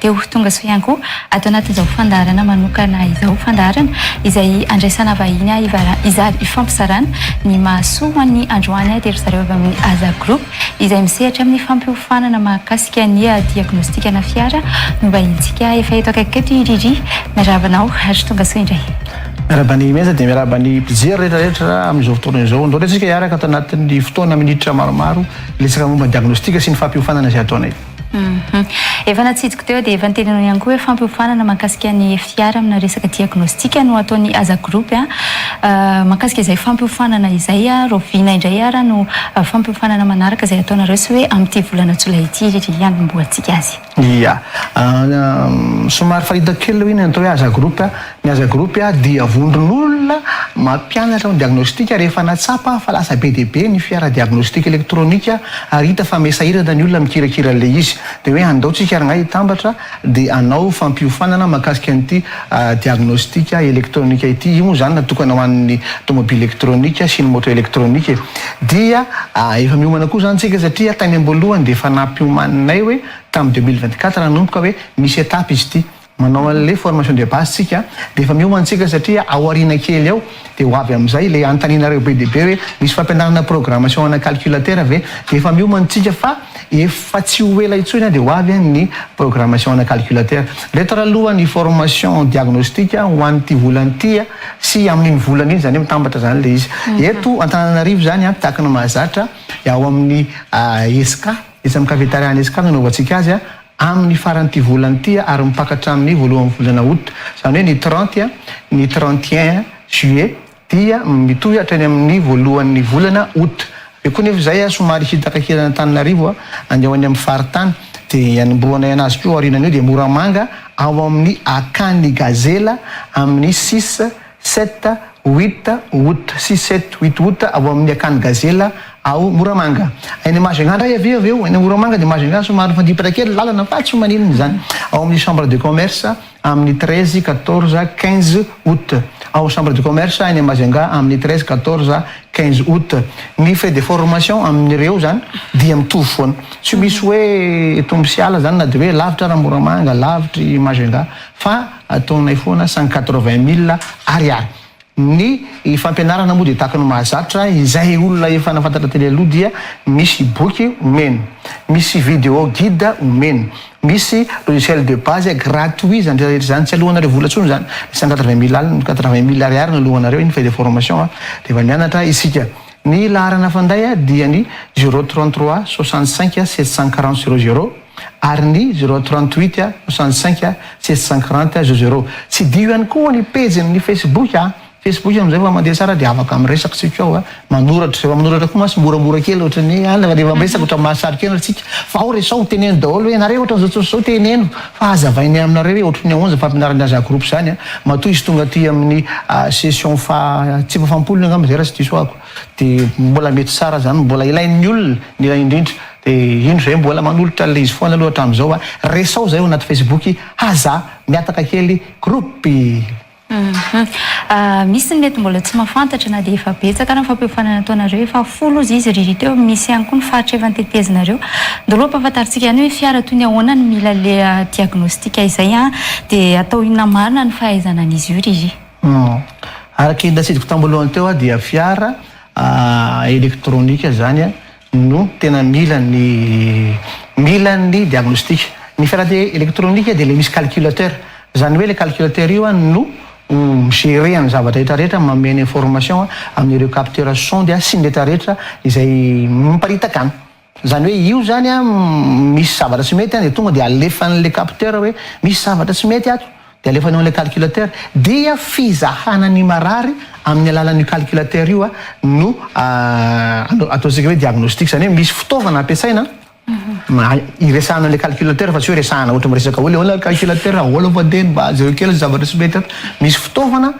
Teo ho tonga soa ihany koa ato anatin'izao fandaharana manokana izao, fandaharana izay andraisana vahiny izary hifampizarana ny mahasoa ho an'ny androany dia ry zareo avy amin'ny Aza Group izay misehatra amin'ny fampiofanana mahakasika ny diagnostikana fiara no vahintsika efa eto akaikiko eto i Riri. Miarahaba anao ary tonga soa indray. Miarahaba an'i Meza dia miarahaba ny mpijery rehetra rehetra amin'izao fotoana izao. Andao aloha isika hiaraka ato anatin'ny fotoana minitra maromaro hiletsaka momba ny diagnostika sy ny fampiofanana izay ataonay. Efa natsijiko teo dia efa niteny anao ihany koa hoe fampiofanana mankasika ny FIR amina resaka diagnostic no ataon'ny Aza Group. Mankasika izay fampiofanana izay rahoviana indray ary no fampiofanana manaraka izay ataonareo sy hoe amin'ity volana jolay ity ry hanombohantsika azy? Ia. Somary fa hitako kely aloha iny ny atao hoe Aza Group. Ny Aza Group dia vondron'olona mampianatra ny diagnostika rehefa natsapa fa lasa be dia be ny fiara diagnostika elektronika ary hita fa mesahirana ny olona mikirakira an'ilay izy. Dia hoe andao tsika rangahy hitambatra dia hanao fampiofanana mahakasika an'ity diagnostika elektronika ity. Io moa izany natokana ho an'ny tomobily elektronika sy ny moto elektronika e. Dia efa miomana koa izany tsika satria tany am-boalohany dia efa nampiomaninay hoe tamin'ny deux mille vingt-quatre nanomboka hoe misy étape izy ity. Manao an'ilay formation de base tsika dia efa miomana tsika satria ao aoriana kely ao dia ho avy amin'izay ilay anontanianareo be dia be hoe misy fampianarana programmation ana calculateur ve dia efa miomana tsika fa efa tsy ho ela intsony dia ho avy ny programmation ana calculateur ndray taraloha ny formation diagnostic ho an'ity volana ity sy amin'iny volana iny izany hoe mitambatra izany ilay izy eto Antananarivo izany an tahaka ny mahazatra ao amin'ny ESCA etsy amin'ny cafetaria any ESCA no anaovantsika azy amin'ny faran'ity volana ity ary mipaka hatramin'ny voalohan'ny volana aout, izany hoe ny trente, ny trente et un juillet dia mitohy hatrany amin'ny voalohan'ny volana aout. Avy eo koa nefa izay somary hita ankakilan'Antananarivo andeha ho any amin'ny faritany dia hanombohanay anazy koa aorianan'io dia Moramanga ao amin'ny akany gazela amin'ny six Sept, huit, août sy sept, huit août ao amin'ny akany Gazela ao Moramanga. Any Majunga indray avy eo avy eo, any Moramanga dia Majunga somary mifandipatra kely ny lalana fa tsy maninona izany. Ao amin'ny Chambre de Commerce amin'ny treize, quatorze, quinze août. Ao Chambre de Commerce any Majunga amin'ny treize, quatorze, quinze août. Ny frais de formation amin'ireo izany dia mitovy foana. Tsy misy hoe tombo sy ala izany na dia hoe lavitra ary Moramanga, lavitra i Majunga fa. Ataonay foana sans quatre-vingt mille ariary. Ny fampianarana moa dia tahaka ny mahazatra izay olona efa nafantatra teny aloha dia misy boky omeny, misy video guide omeny, misy logiciel de base gratuit izany rehetra rehetra izany, tsy aloanareo vola intsony izany, ny cent quatre-vingt mille alina, quatre-vingt mille ariary no aloanareo, iny frais de formation a, rehefa mianatra isika. Ny laharana fanday dia ny zéro trente-trois soixante-cinq sept cent quarante zéro zéro. ary ny zero trente huit soixante cinq six cent quarante zero zero. Tsidiho ihany koa ny pejin' ny Facebook a! Facebook amin'izay fa mandeha tsara dia afaka miresaka tsika ao a! Manoratra, rehefa manoratra koa mantsy moramora kely ohatra ny hoe a! rehefa miresaka ohatra ny mahasarika aina tsika fa ao resaho teneno daholo hoe nareo ohatra izao izao teneno fa hazavainay aminareo hoe ohatry ny ahoana izany fampianaran'ny Aza Group izany a! Matoa hisy tonga aty amin'ny session faha tsipafam-polony angamba izay raha tsy diso ahako. Dia mbola mety tsara zany mbola ilain'ny olona ny iray indrindra dia indro zay mbola manolotra an'ilay izy foana aloha hatramin'izao a! Resao zay ao anaty facebook aza mihataka kely groupe. Hum misy ny mety mbola tsy mahafantatra na dia efa betsaka ara ny fampiofanana ataonareo efa folo ozy izy ry teo misy ihany koa ny faritra efa notetezinareo daholo ampahafantarintsika ihany hoe fiara toy ny ahoana no mila le diagnostic izay an dia atao inona marina ny fahaizana an'izy io ry Humm. Araka ny natsidiko tambolohany teo aho dia fiara elektronika izany no tena mila ny mila ny diagnostic. Ny fiara elektronika dia ilay misy calculateur. Izany hoe ilay calculateur io no mi-gerer ny zavatra rehetra rehetra, manome ny information amin'ireo capteurs sondes sy ny rehetra rehetra izay miparitaka any. Izany hoe io izany an, misy zavatra tsy mety an, dia tonga dia alefan'ilay capteur hoe misy zavatra tsy mety ato, dia alefany ao amin'ilay calculateur, dia fizahana ny marary amin'ny alalan'io calculateur io no ataontsika hoe diagnostic, izany hoe misy fitaovana ampiasaina mba hiresahana an'ilay calculateur fa tsy hoe resahana ohatra miresaka hoe le ahoana ry calculateur ahoana va dia mba jereo kely ny zavatra tsy mety ato, misy fitaovana.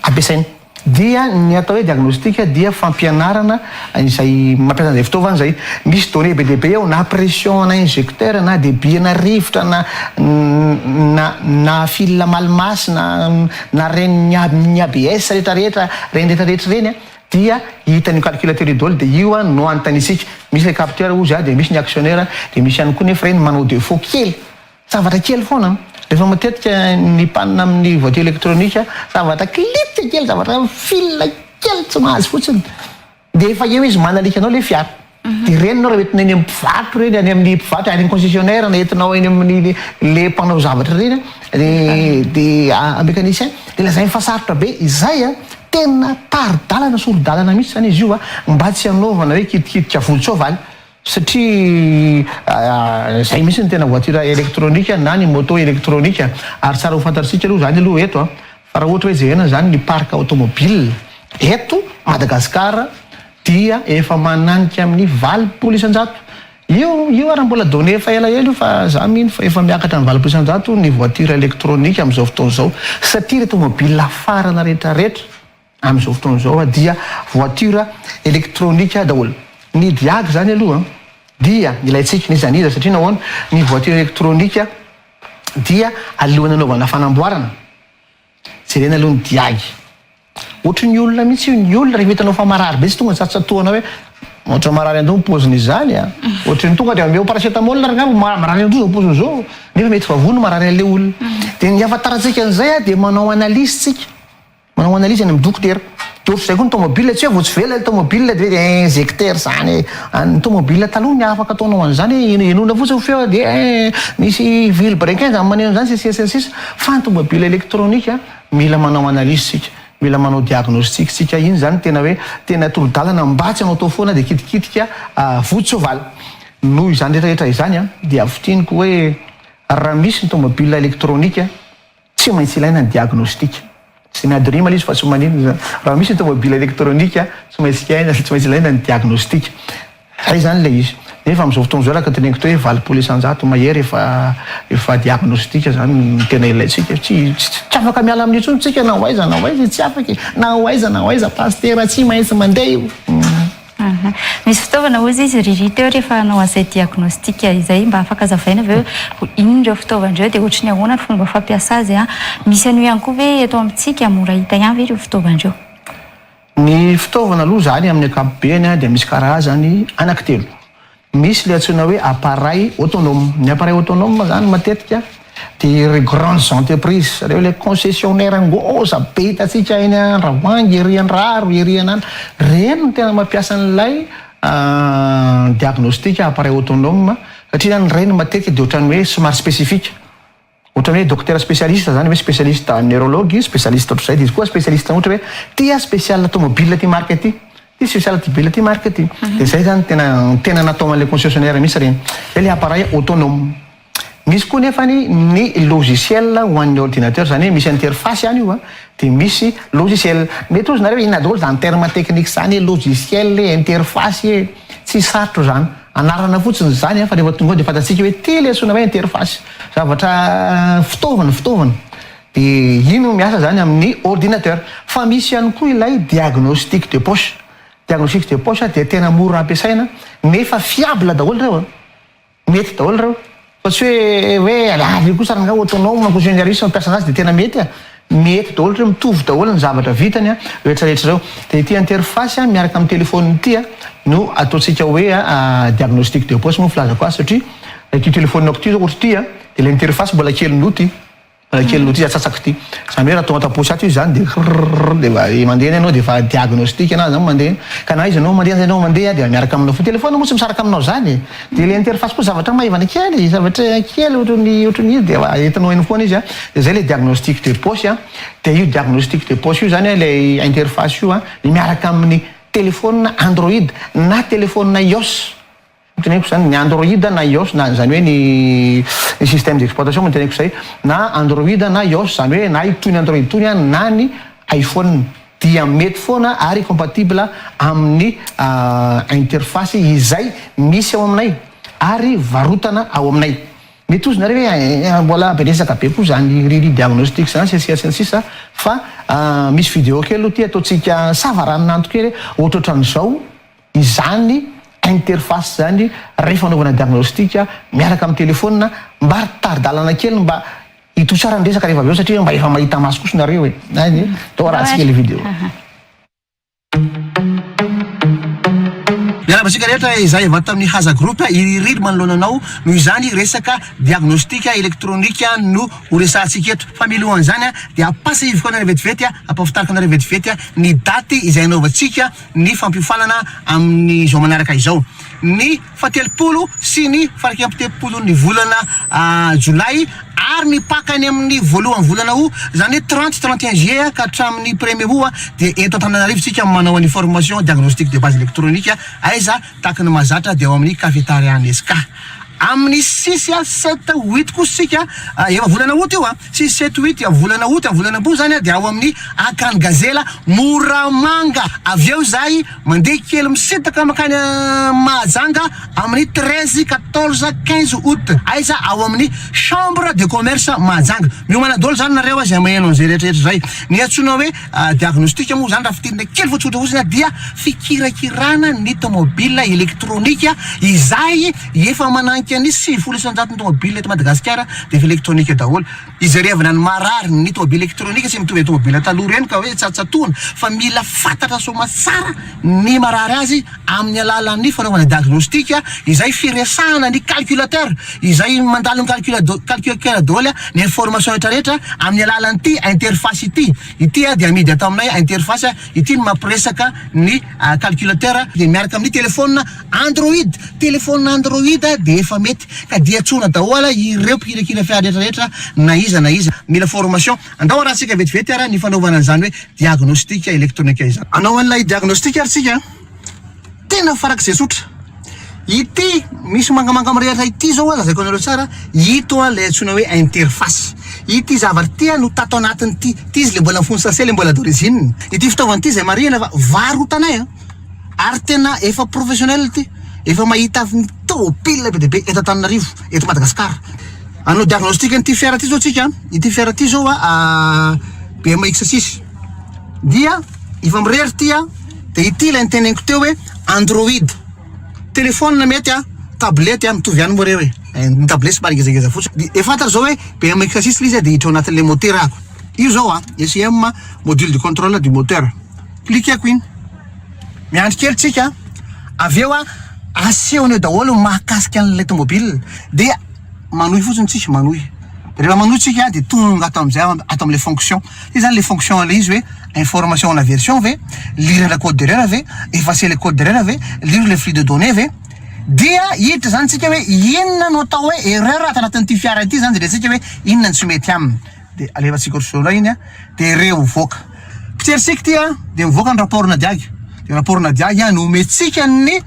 ampiasaina. Dia ny atao hoe diagnostic dia fampianarana izay mampiasa an'izay fitaovana izay. Misy données be dia be ao na pression ana injecteur na débit ana rivotra na na na fil malmas na na ren'ny ny ABS rehetra rehetra ireny rehetra rehetra ireny a dia hitan'io calculateur io daholo dia io no anontaniantsika. Misy ilay capteur hozy a dia misy ny actionneur dia misy ihany koa nefa ireny manao defaut kely. Zavatra kely foana an! Rehefa matetika mipanina amin'ny voiture électronique, zavatra klitsa kely, zavatra fil kely tsy mahazo fotsiny dia efa eo izy manalika anao ilay fiara. Dia ireny ianao raha entina eny amin'ny mpivarotra ireny, any amin'ny mpivarotra, any amin'ny concessionnaire na entinao eny amin'ny ilay mpanao zavatra ireny an, dia an mécanicien, dia lazainy fa sarotra be izay an! Tena tari-dalana, sori-dalana mihitsy izany izy io an! Mba tsy hanaovana hoe kitikitika volon-tsoavaly. satria izay mihitsy ny tena voiture électronique na ny moto électronique, ary tsara ho fantatr'isika aloha izany aloha eto a, fa raha ohatra hoe jerena izany ny parc automobile eto Madagascar dia efa mananika amin'ny valopolo isan-jato io, io ary mbola données efa ela ela io fa za mino fa efa miakatra amin'ny valopolo isan-jato ny voiture électronique amin'izao fotoana izao, satria ireto mobile farana rehetra rehetra. Amin'izao fotoana izao dia voiture électronique daholo ny diag zany aloha dia ilaintsika izy an'iza satria nahoana ny voiture électronique dia alohan'ny anaovana fanamboarana jerena aloha ny diag ohatry ny olona mihitsy io ny olona rehefa hitanao fa marary be tsy tonga tsy tsatohanao hoe Ohatra marary an-doha ny paoziny izany a. Ohatry ny tonga dia omeo paracetamol ary angamba ma- marary an-doha izao paoziny izao. Nefa mety vavony no marary an'ilay olona. Dia ny ahafantarantsika an'izay dia manao analyse tsika. Manao analyse any am dokotera. De ohatr'izay koa ny tomobile, tsy hoe vao tsy velona ilay tomobile de hoe injecter zany e! Ny tomobile taloha ny afaka ataonao an'izany hoe henoina fotsiny feo a dia misy vily brequin zany maneno an'izany sy ny sisa sy ny sisa. Fa ny tomobile électronique a, mila manao analyse tsika, mila manao diagnostic tsika, iny zany tena hoe tena toro-dalana mba tsy hanao tao foana dia kitikitika vodi-tsoavaly. Noho izany rehetra rehetra izany a, dia fintiniko hoe raha misy ny tomobile électronique, Tsy maintsy ilaina ny diagnostika. Tsy miady rima ilay izy fa tsy maninona izany. Raha misy ny tomobila elektronika, tsy maintsy iaina, tsy maintsy ilaina ny diagnostika. Izay izany ilay izy. Nefa amin'izao fotoana izao, araka ny teneniko teo hoe valopolo isan-jato mahery efa efa diagnostika izany no tena ilaintsika. Tsy tsy tsy afaka miala amin'io intsony isika na ho aiza na ho aiza e, tsy afaka e. Na ho aiza na ho aiza, pasitera tsy maintsy mandeha io. Aha. Misy fitaovana hozy izy Riri teo rehefa hanao an'izay diagnostic izay mba afaka azavaina ve hoe inona ireo fitaovana ireo dia ohatry ny ahoana ny fomba fampiasa azy an? Misy an'io ihany koa ve eto amintsika? Mora hita ihany ve ireo fitaovana ireo? Ny fitaovana aloha izany amin'ny ankapobeny dia misy karazany anaky telo. Misy ilay antsoina hoe appareil autonome. Ny appareil autonome moa izany matetika dia ireo grandes entreprises, ireo ilay concessionnaire ngôza be hitantsika eny Andravoahangy, ery Andraro, ery an'ana. Ireny no tena mampiasa an'ilay diagnostic appareil autonome satria izany ireny matetika dia ohatran'ny hoe somary spécifique. Ohatran'ny hoe dokotera specialiste zany hoe specialiste en neurologue, specialiste ohatr'izay, dia izy koa specialiste ohatra hoe ity ah special tomobile ity marque ity, ity special tibile ity marque ity. Dia izay zany tena tena natao an'ilay concessionnaire mihitsy ireny. Izay ilay appareil autonome. Misy koa nefany ny logiciel ho an'ny ordinateur, izany hoe misy interface any io an, dia misy logiciel. Mety hozy nareo hoe inona daholo izany terme technique izany hoe logiciel e, interface e. Tsy sarotra izany. Anarana fotsiny izany an, fa rehefa tonga ao dia fantatsika hoe ity ilay antsoina hoe interface, zavatra fitaovana, fitaovana, dia iny no miasa izany amin'ny ordinateur. Fa misy ihany koa ilay diagnostic de poche, diagnostic de poche dia tena mora ampiasaina nefa fiable daholo ireo an, mety daholo ireo, Fa tsy hoe hoe avy kosa rangahy autonome koa zay ny aris ny mampiasa anazy dia tena mety a! mety daholo satria mitovy daholo ny zavatra vitany a! rehetra rehetra ireo dia ity interface a! miaraka amin'ny telephone ity a! no ataontsika hoe a! diagnostic de poche moa ny filazako azy satria ilay ity telephone-nako ity zao ohatry ity a! dia ilay interface mbola kely noho ity. Raha kely notiza atsatsak ity. Zany hoe raha tonga ato aposy ato izy zany dia rrrrrr dia efa mandeha any ianao dia efa diagnostic anao zany mandeha eny ka na izy ianao mandeha na ianao mandeha dia miaraka aminao foana. Telephone moa tsy misaraka aminao zany e. Dia ilay interface koa zavatra maivana kely, zavatra kely ohatran'ny ohatran'ny izy dia efa entinao eny foana izy a. Dia zay ilay diagnostic de poche a. Dia io diagnostic de poche io zany ilay interface io a, miaraka amin'ny telephone android na telephone ios. Ny teneniko izany, ny Android na ios, na izany hoe ny ny systèmes d'exploitation moa ny teneniko izay, na Android na ios, izany hoe na itony Android itony na ny iPhone, dia mety foana ary compatible amin'ny interface izay misy ao aminay ary varotana ao aminay. Mety hozy nareo hoe eh, mbola be resaka be koa izany riri diagnostic izany sy ny sisa sy ny sisa fa misy video kely aloha ity ataontsika savaranonando kely hoe ohatrohatran'izao izany interface izany rehefa anaovana diagnostic miaraka amin'ny telephone mba ry tari-dalana kely mba hitohy tsara ny resaka rehefa avy eo satria mba efa mahita maso kosa nareo e any tao raha tsy kely video. Miarahaba antsika rehetra izay avy ato amin'ny Haza Group, i Ririry manoloana anao, noho izany resaka diagnostic electronique no ho resahantsika eto, fa milohan'izany dia ampatsiahiviko anareo vetivety, ampahafantariko anareo vetivety ny daty izay anaovantsika ny fampiofanana amin'izao manaraka izao, ny fahatelopolo sy ny faraika ampitempopon'ny volana jolay ary ny Paka any amin'ny voalohan'ny volana aout, izany hoe trente, trente et un juillet ka hatramin'ny premier aout dia eto Antananarivo isika manao an'io formation diagnostic de base électronique aiza tahaky ny mahazatra dia ao amin'ny cafetaria Nesca amin'ny six, sept, huit kosa isika efa volana aout io an! Tsy seto huit dia volana aout a volana ambony zany a dia ao amin'ny Akan Gazela Moramanga avy eo izahay mandeha kely misintaka mankany Mahajanga amin'ny treize quatorze quinze aout aiza ao amin'ny chambre de commerce Mahajanga miomana daholo zany nareo a izay maheno an'izay rehetra rehetra izay ny antsoina hoe diagnostic moa zany raha fidinina kely fotsikotra fotsiny dia fikirakirana ny tomobile elektronika izay Efa mananika ny sivifolo isan-jaton'ny tômôbila eto Madagasikara dia efa elektrônika daholo. Izerevana ny maharary ny tômôbila elektrônika tsy mitovy amin'ny tômôbila taloha ireny ka hoe tsatsatoana fa mila fantatra soamatsara ny marary azy amin'ny alalan'ny fanaovana diagnostika izay firesahana ny calculateur izay mandalo ny calculateur daholo ny information retraretra amin'ny alalan'ity interface ity. Ity dia amidy ato aminay interface ity no mampiresaka ny calculateur dia miaraka amin'ny téléphone Android, Telephone Android dia efa mety ka dia tsoina daoala ireo mpikirakira fiara rehetra rehetra na iza na iza. Mila formation. Andao arahintsika vetivety ara ny fanaovana an'izany hoe diagnostic electronic izany. Anao an'ilay diagnostic ary tsika a! Tena farak'izay tsotra. Ity misy mangamanga mirehatra ity zao a, lazaiko anareo tsara a, ito a ilay antsoina hoe interface. Ity zavatra ity a no tato anatin'ity, ity izy le mbola mifono sachet le mbola d'origine. Ity fitaovana ity izay marihina fa varotanay a! ary tena efa professionnel ity, efa mahita tôbily be dia be eto Antananarivo, eto Madagasikara. Hanao diagnostic an'ity fiara ity zao tsika, ity fiara ity zao a BMX six dia efa mirery ity a, de ity ilay niteneniko teo hoe android, telephone mety a, tablette a, mitovy ihany moa reo e, ny tablette somary ngezangeza fotsiny, dia efa fantatra zao hoe BMX six le izy a, dia hiditra ao anatin'ilay môtera ako, io zao a, ECM module de contrôle du moteur. Pliquer-ko iny. Miandry kely tsika an. Avy eo an, asehony eo daholo ny mahakasika an'ilay tomobile. Dia manohy fotsiny tsika, manohy. Rehefa manohy tsika an, dia tonga ato amin'izay aho, ato amin'ilay fonction. Io izany ilay fonction ilay izy hoe, information na version ve? Lire ilay code d'erreur ve? Effacer ilay code d'erreur ve? Lire ilay flux de données ve? Dia hiditra izany tsika hoe, inona no atao hoe erreur ato anatin'ity fiara ity izany, dia rehatsika hoe, inona no tsy mety aminy. dia alefa tsiko ry sorainy a dia re ho voaka mpitsery siky ty a dia mivoaka ny rapport na diaga dia rapport na diaga no metsika ny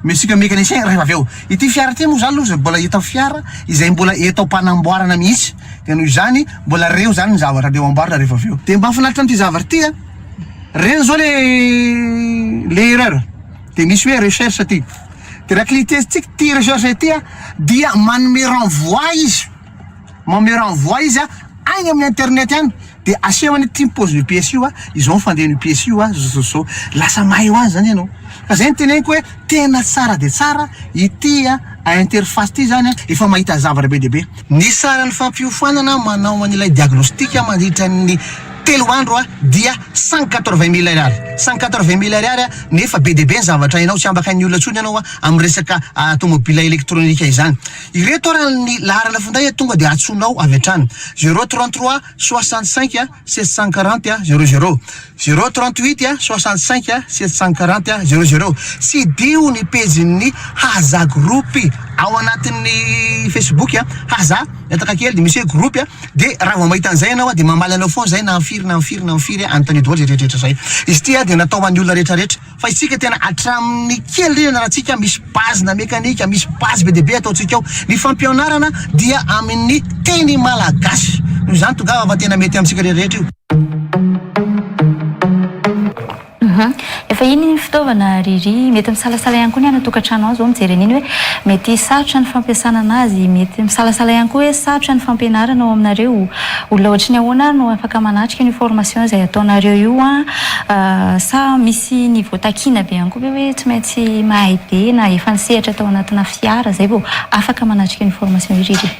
mesika mécanicien rehefa avy eo ity fiara ity moa zany loha mbola hita fiara izay mbola eto am-panamboarana mihitsy dia noho izany mbola reo zany ny zavatra dia ho amboarina rehefa avy eo dia mba finaritra amin'ity zavatra ity a reny zao le le erreur dia misy hoe recherche ty dia raha clitestika ty recherche ity a dia manome renvoi izy Manome renvoi izy a, agny amin'ny internet agny de asehony hoe ty ny pôzin'io piesy io a, izao ny fandehan'io piesy io a, zao zao zao. Lasa mahay ho azy zany ianao. Ka zay no teneniko hoe tena tsara dia tsara ity interface ity zany a, efa mahita zavatra be dia be. Ny saran'ny fampiofanana manao an'ilay diagnostic mandritra ny telo andro dia cent quatre-vingt mille ariary, cent quatre-vingt mille ariary nefa be dia be ny zavatra hainao, tsy ambakan'ny olona intsony ianao amin'ny resaka tômôbila elektrônika izany. Ireto ary ny laharana finday a tonga dia antsoinao avy hatrany, zéro trente trois soixante cinq sept cent quarante zéro zéro, zéro trente huit soixante cinq sept cent quarante zéro zéro. Tsidiho ny pejin'ny Haza group ao anatin'ny Facebook a, Haza mihataka kely dia misy hoe group a, dia raha vao mahita an'izay ianao dia mamaly anao foana izay na amin'ny firy na amin'ny firy na amin'ny firy, anontanio daholo izay rehetrarehetra izay. Izy ity dia natao ho an'ny olona rehetrarehetra. Fa isika tena hatramin'ny kely indrindra na ratsika misy base na mekanika, misy base be dia be ataontsika ao. Ny fampianarana dia amin'ny teny malagasy. Noho izany tongava fa tena mety amintsika rehetrarehetra io. Efa iny ny fitaovana ry ry. Mety misalasala ihany koa ny any an-tokantrano any izao mijery an'iny hoe mety sarotra ny fampiasana an'azy. Mety misalasala ihany koa hoe sarotra ny fampianarana ao aminareo. Olona ohatry ny ahoana ary no afaka manatrika an'io formation izay ataonareo io an? Sa misy niveau takiana be ihany koa ve hoe tsy maintsy mahay be na efa nisehatra tao anatina fiara izay vao afaka manatrika ny formation irery?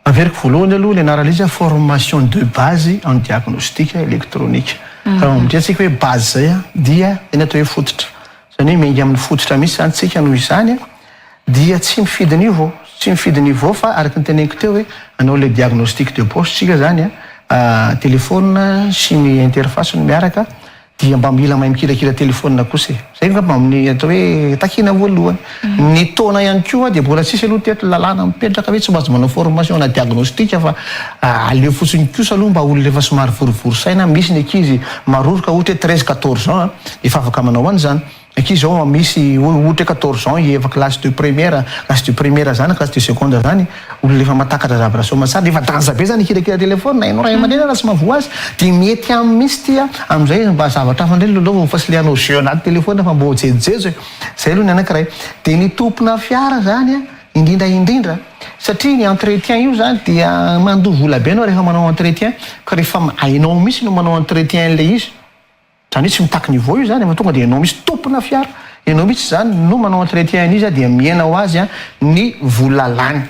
Averiko voalohany aloha ny anarana izy formation de base en diagnostic électronique. Raha mamindrantsika hoe base izay dia ny atao hoe fototra. Izany hoe miainga amin'ny fototra mihitsy izany tsika noho izany Dia tsy mifidy niveau, tsy mifidy niveau fa araka ny teneniko teo hoe hanao ilay diagnostic de poche tsika zany a, telephone sy ny interface no miaraka dia mba mila mahay mikirakira telephone kosa e, zay angamba amin'ny atao hoe takiana voalohany. Ny taona ihany koa dia mbola tsisy aloha teto lalàna mipetraka hoe tsy maintsy manao formation na diagnostic fa aleo fotsiny kosa aloha mba olona efa somary vorivory saina, misy ny ankizy maroroka ohatra hoe treize, quatorze ans a, efa afaka manao an'izany. Ankizy zao an misy ohatra hoe quatorze ans efa classe de première, classe de première zany na classe de seconde zany, olona efa mahatakatra zavatra soa aman-tsara dia efa danja be zany hikirakira téléphone, hainao ray aman-dreny raha tsy mahavoa azy dia mety aminy mihitsy ity an, amin'izay mba zavatra hafa indray lalaovao fa tsy le hanao jeu anaty téléphone fa mba jejojejo e! zay aloha ny anankiray. Dia ny tompona fiara zany an indrindra indrindra satria ny entretien io zany dia mandoa vola be ianao rehefa manao entretien ka rehefa hainao mihitsy no manao entretien an'ilay izy, Zany hoe tsy mitaky niveau io zany fa tonga dia enao mihitsy tompona fiara, enao mihitsy zany no manao entretien an'izy a dia mihena ho azy ny vola lany.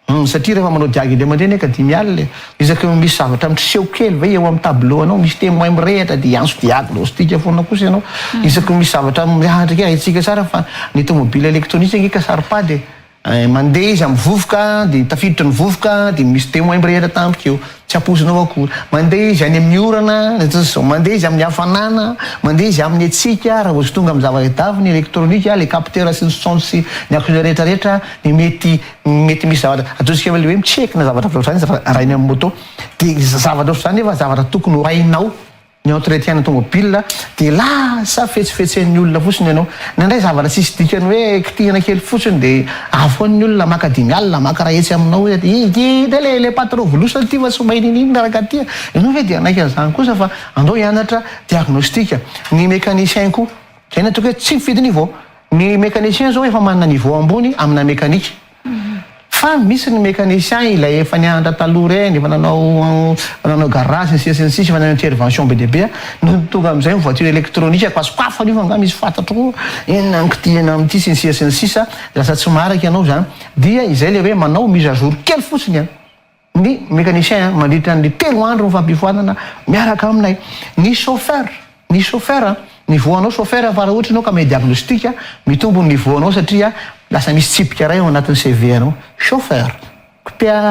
Hum satria rehefa manao diagy indray mandeha anie ka dimy alina e! Isaky ny misy zavatra miseho kely ve eo amin'ny tableau anao misy temoin mirehatra dia hiantso diagnostic foana kosa ianao isaky ny misy zavatra miahantra kely, haintsika tsara fa ny tomobila electronique ange ka saro-pady e! Mandeha izy amin'ny vovoka, dia tafiditra ny vovoka, dia misy témoin mirehitra tampoka eo, tsy ampoizinao akory. Mandeha izy any amin'ny orana, mandeha izy amin'ny hafanana, mandeha izy amin'ny hatsiaka, raha vao tsy tonga amin'ny zava-davy ny elektronika, ilay capteur sy ny sonde sy ny akotr'izay rehetra rehetra, dia mety mety misy zavatra, ataontsika hoe ilay hoe mi-check na zavatra ohatr'izany izy raha arahinao amin'ny moto. Dia zavatra ohatr'izany nefa zavatra tokony ho hainao. ny entretien-na tomobilina dia lasa fetsifetsen'ny olona fotsiny ianao, nandray zavatra tsisy dikany hoe kitihina kely fotsiny dia avy foana ny olona maka dimy alina maka ray hetsy aminao hoe aty ity ity le le patron volosana ity fa tsy mahay nini inona raka aty a, ianao ve dia hanaiky an'izany kosa fa andao hianatra diagnostic, ny mécanicien koa, zay ny ataoko hoe tsy mifidy niveau, ny mécanicien zao efa manana niveau ambony amina mécanique. Fa misy ny mécanicien ilay efa nianatra taloha ireny, efa nanao nanao garage sy ny sisa sy ny sisa, efa nanao intervention be dia be, no tonga amin'izay ny voiture électronique ka sokafana io fa angaha misy fantatro koa inona no kitihina amin'ity sy ny sisa sy ny sisa, lasa tsy marika ianao izany, dia izay ilay hoe manao mise à jour kely fotsiny an! ny mécanicien mandritra ny telo andro ny fampifoanana miaraka aminay, ny chauffeur, ny chauffeur, ny voanao chauffeur fa raha ohatra ianao ka manao diagnostic mitombo ny niveau anao satria lasa misy tsipika iray ao anatin'ny CV anao, chauffeur,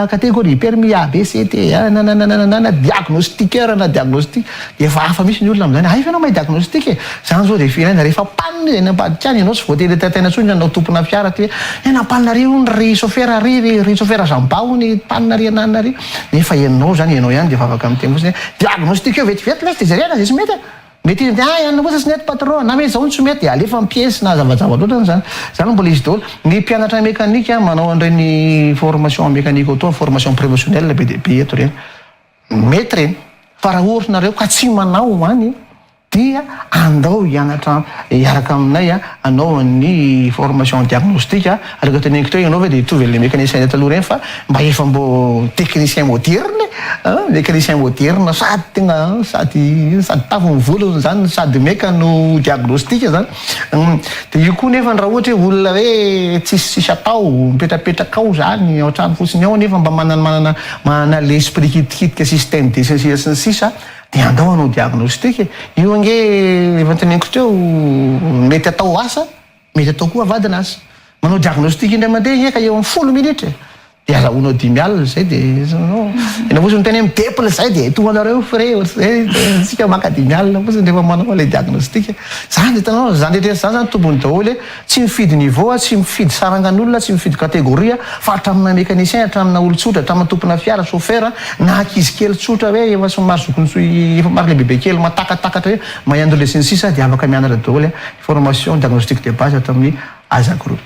catégorie, permis A, B, C, D, nanananananana, diagnostiqueur na diagnostic, Efa hafa mihitsy ny olona amin'izany. Hay ve ianao mahay diagnostic e? Izany izao dia firenena rehefa panne izay any ambadika any, ianao tsy voatery entantaina intsony ny anao tompona fiara aty hoe tena panne ary hono ry chauffeur ary ry ry chauffeur Jamba hono panne ary anana ary nefa ianao izany ianao ihany dia efa afaka miteny fotsiny hoe diagnostic eo vetivety lesy dia jerena izay tsy mety a! Mety izy dia ianona kosa tsy nety patron na mety izao no tsy mety dia alefa amin'ny piesy na zavajava loatra izany. Izany mbola izy daholo. Ny mpianatra mécanique manao an'ireny formation mécanique auto, formation professionnelle be dia be eto ireny. Mety ireny, fa raha ohatra nareo ka tsy manao any dia andao hianatra hiaraka aminay hanao ny formation diagnostic, araka teneniko teo ianao ve dia hitovy an'ilay mécanicien teo taloha ireny fa mba efa mbô technicien moderne e, mécanicien moderne sady tena sady sady tavy ny volony izany sady meka no diagnostic izany. Humm, dia io koa nefany raha ohatra hoe olona hoe tsisy tsisy atao, mipetrapetraka ao zany ao an-trano fotsiny ao nefa mba manana manana manana l'esprit kitikitika sy système de sesea sy ny sisa dia andao hanao diagnostic e! io ange efa noteneniko teo mety atao asa mety atao koa avadina asa, manao diagnostic indray mandeha ange ka eo amin'ny folo minitra e! Dia azahoanao dimy alina izay dia enao fotsiny miteny hoe midepona izay dia toa anareo frais ohatr'izay antsika maka dimy alina fotsiny rehefa manao ilay diagnostic. Izany dia hitanao izany rehetra rehetra izany izany tombony daholo hoe tsy mifidy niveau aho, tsy mifidy sarangan'olona, tsy mifidy catégorie aho fa hatramina mécanicien, hatramina olon-tsotra, hatramina tompona fiara, chauffeur, na ankizy kely tsotra hoe efa somary zokin'ny so efa somary lehibebe kely matakatakatra hoe mahay androy lesy ny sisa dia afaka mianatra daholo formation diagnostic de base ato amin'ny Aza group.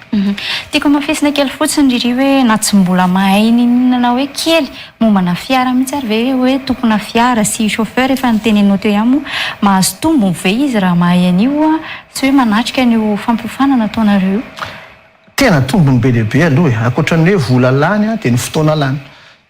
Tiako amafisina kely fotsiny ry ry hoe na tsy mbola mahay niniana na hoe kely mombana fiara mihitsy ary ve hoe tompona fiara sy chauffeur efa noteneninao teo ihany moa mahazo tombony ve izy raha mahay an'io sy hoe manatrika an'io fampiofanana ataonareo io? Tena tombony be dia be aloha e! Ankoatra ny hoe vola lany dia ny fotoana lany.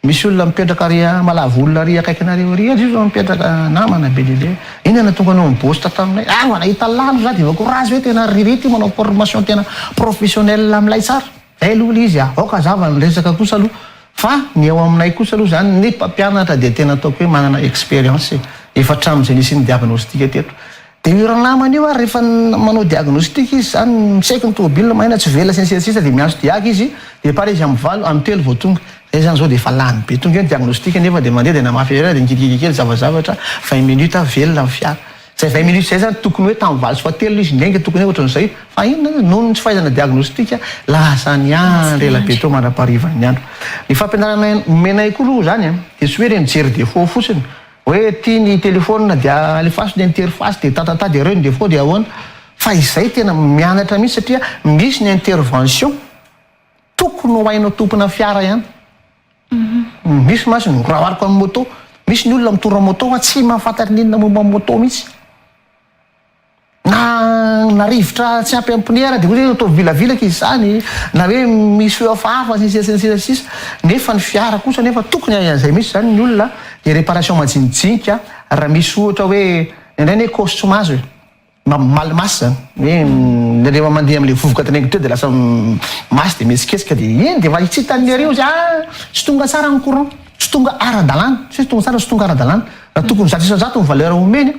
Misy olona mipetraka ary malavo olona ary akaikinareo ary ianz io zao mipetraka namana be dia be inona no tonga nao mibost taminay ah vao nahita lalo za dia voakorazy hoe tena ry rita io manao formation tena professionnelle milay tsara zay aloha ilay izy ah aoka azava ny resaka kosa aloha fa ny ao aminay kosa aloha zany ny mpampianatra dia tena ataoko hoe manana experience efa hatramin'izay nisian'ny diagnostic teto Dia io ranamana io ary rehefa manao diagnostic izy izany, mi-check ny tomobilina, mahena tsy velona sy ny sisa sy ny sisa dia miantso diaga izy, dia par izy amin'ny valo, amin'ny telo vao tonga. Izay izany izao dia efa lany be. Tonga eo ny diagnostic nefa dia mandeha dia namafy irery ary dia nikitikitika kely zavazavatra, vingt minutes avy velona ny fiara. Izay vingt minutes izay izany tokony hoe tamin'ny valo sy fahatelony izy niainga, tokony hoe ohatran'izay io. Fa inona ary, noho ny tsy fahaizana diagnostic, lasa ny andro, ela be teo mandra-paharivan'ny andro. Ny fampianaranay nomenay koa aloha izany dia tsy hoe ireny jery defaut fotsiny, Hoe ity ny telephone dia alefaso ny interface dia tatata dia reo ny defaut dia ahoana? Fa izay tena mianatra mihitsy satria misy ny intervention tokony ho hainao tompona fiara ihany. Misy mantsy ny rahariko amin'ny moto, misy ny olona mitondra moto fa tsy mahafantatra ny inona momba ny moto mihitsy. Na na rivotra tsy ampy ampiniera dia hoe ataovy vilavilaka izy izany, na hoe misy hoe hafahafa sy ny sisa sy ny sisa sy ny sisa, nefa ny fiara kosa anefa tokony hahay an'izay misy izany ny olona dia réparation majinijinika raha misy ohatra hoe ny anay anie cause tsy mahazo e! mba mal masse izany hoe ny rehefa mandeha amin'ilay vovoka teneniko teo dia lasa masse dia mihetsiketsika dia iny dia efa tsy hitan'ny areo izy ah! tsy tonga tsara ny courant, tsy tonga ara-dalàna, tsy hoe tonga tsara fa tsy tonga ara-dalàna, raha tokony zato isan-jato ny valeur omeny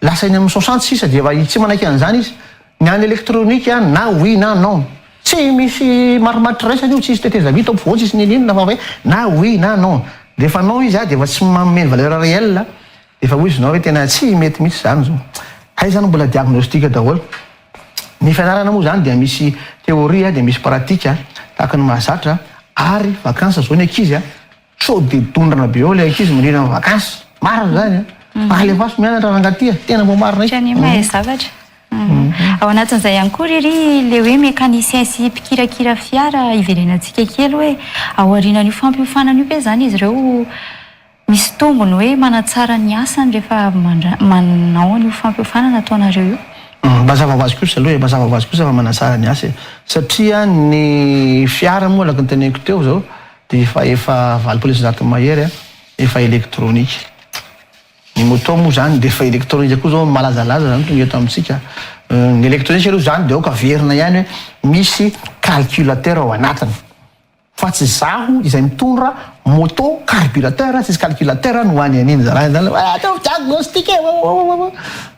Lasa eny amin'ny soixante sisa dia efa tsy manaiky an'izany izy. Ny an'ny elektronika na oui na non. Tsy misy marimaritra iraisana io, tsy hisy tetezamita ao ampovoany, tsy hisy n'inon'inona fa hoe na oui na non. Rehefa non izy dia efa tsy manome ny valeur réelle, dia efa ho izy non hoe tena tsy mety mihitsy izany izao. Hay izany mbola diagnostic daholo. Ny fianarana moa izany dia misy théorie dia misy pratique tahaka ny mahazatra ary vacances izao ny ankizy Sao dia dondrana be eo ilay ankizy mirina ny vakansy. Marina izany an! Mba alefaso mianatra rangaty a! Tena mba marina io. Anie mahay zavatra. Ao anatin'izay ihany koa ry ry ilay hoe mécanicien sy mpikirakira fiara hiverenantsika kely hoe ao aorianan'io fampiofanana io ve izany izy ireo misy tombony hoe manatsara ny asany rehefa avy mandra- manao an'io fampiofanana ataonareo io? Mazava ho azy kosa aloha e, mazava ho azy kosa fa manatsara ny asa e. Satria ny fiara moa araka ny teneniko teo izao dia efa efa valopolo sy zato mahery a, efa elektronika. Ny moto moa izany dia efa elektronika koa izao, malazalaza izany tonga eto amintsika. Ny elektronika aloha izany dia aoka averina ihany hoe misy calculateur ao anatiny. Fa tsy izaho izay mitondra moto carburateur, tsisy calculateur no any an'iny. Zalahy zany hoe ataovy diagnostic e! Wawawawa!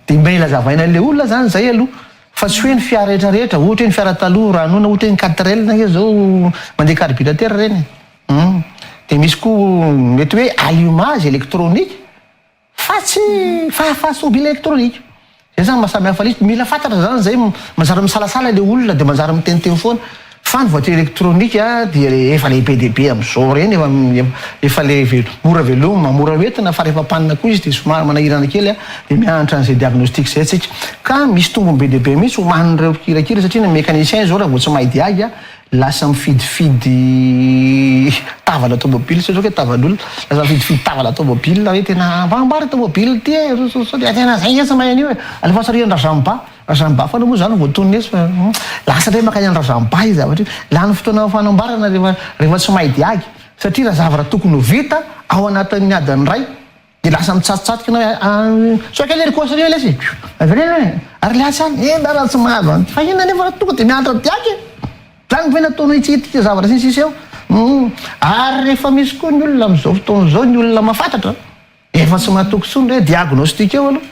Dia mila azavaina an'ilay olona izany izay aloha. Fa tsy hoe ny fiara rehetra rehetra, ohatra hoe ny fiara taloha raha hanoina ohatra hoe ny quatrelle nge zao mandeha carburateur reny e! humm! Dia misy koa mety hoe allumage électronique fa tsy fahafaha tôbila électronique! Zay zany maha samy hafa list, mila fantatra zany zay, manjary misalasala le olona dia manjary miteniteny foana. Fa ny voiture électronique dia efa lehibe dia be amin'izao ireny efa le mora veloma, mora hoentina fa rehefa panne koa izy dia somary manahirana kely dia mihanatra an'izay diagnostic izay tsika. Ka misy tombony be dia be mihitsy ho an'ireo mpikirakira satria ny mécanicien izao raha vao tsy mahay diaga lasa mifidifidy tavana tomobile tsy aiko hoe tavan'olona, lasa mifidifidy tavana tomobile hoe tena mba ambara ity tomobile ity e, sao dia tena izay ange tsy mahay an'io e, alefaso ary an-dRazamibà. Razambafana moa zany vao tonony etsy fa lasa indray makany any Razamba io zavatra io. Lany fotoana am fanambarana rehefa rehefa tsy mahay dia agy satria raha zavatra tokony ho vita ao anatin'ny adiny iray dia lasa mitsatotsatika na a sao kely ry kôsy anie lesy e! avereno e! ary le atsy any e! ndara tsy mahazo an'ity fa inona nefa tonga dia mianatra dia agy e! zany ve nataonao hitsikitika zavatra sy ny sisa eo? humm ary rehefa misy koa ny olona am'zao fotoana zao ny olona mafatatra efa tsy matoky tsony re dia agonôstika eo aloha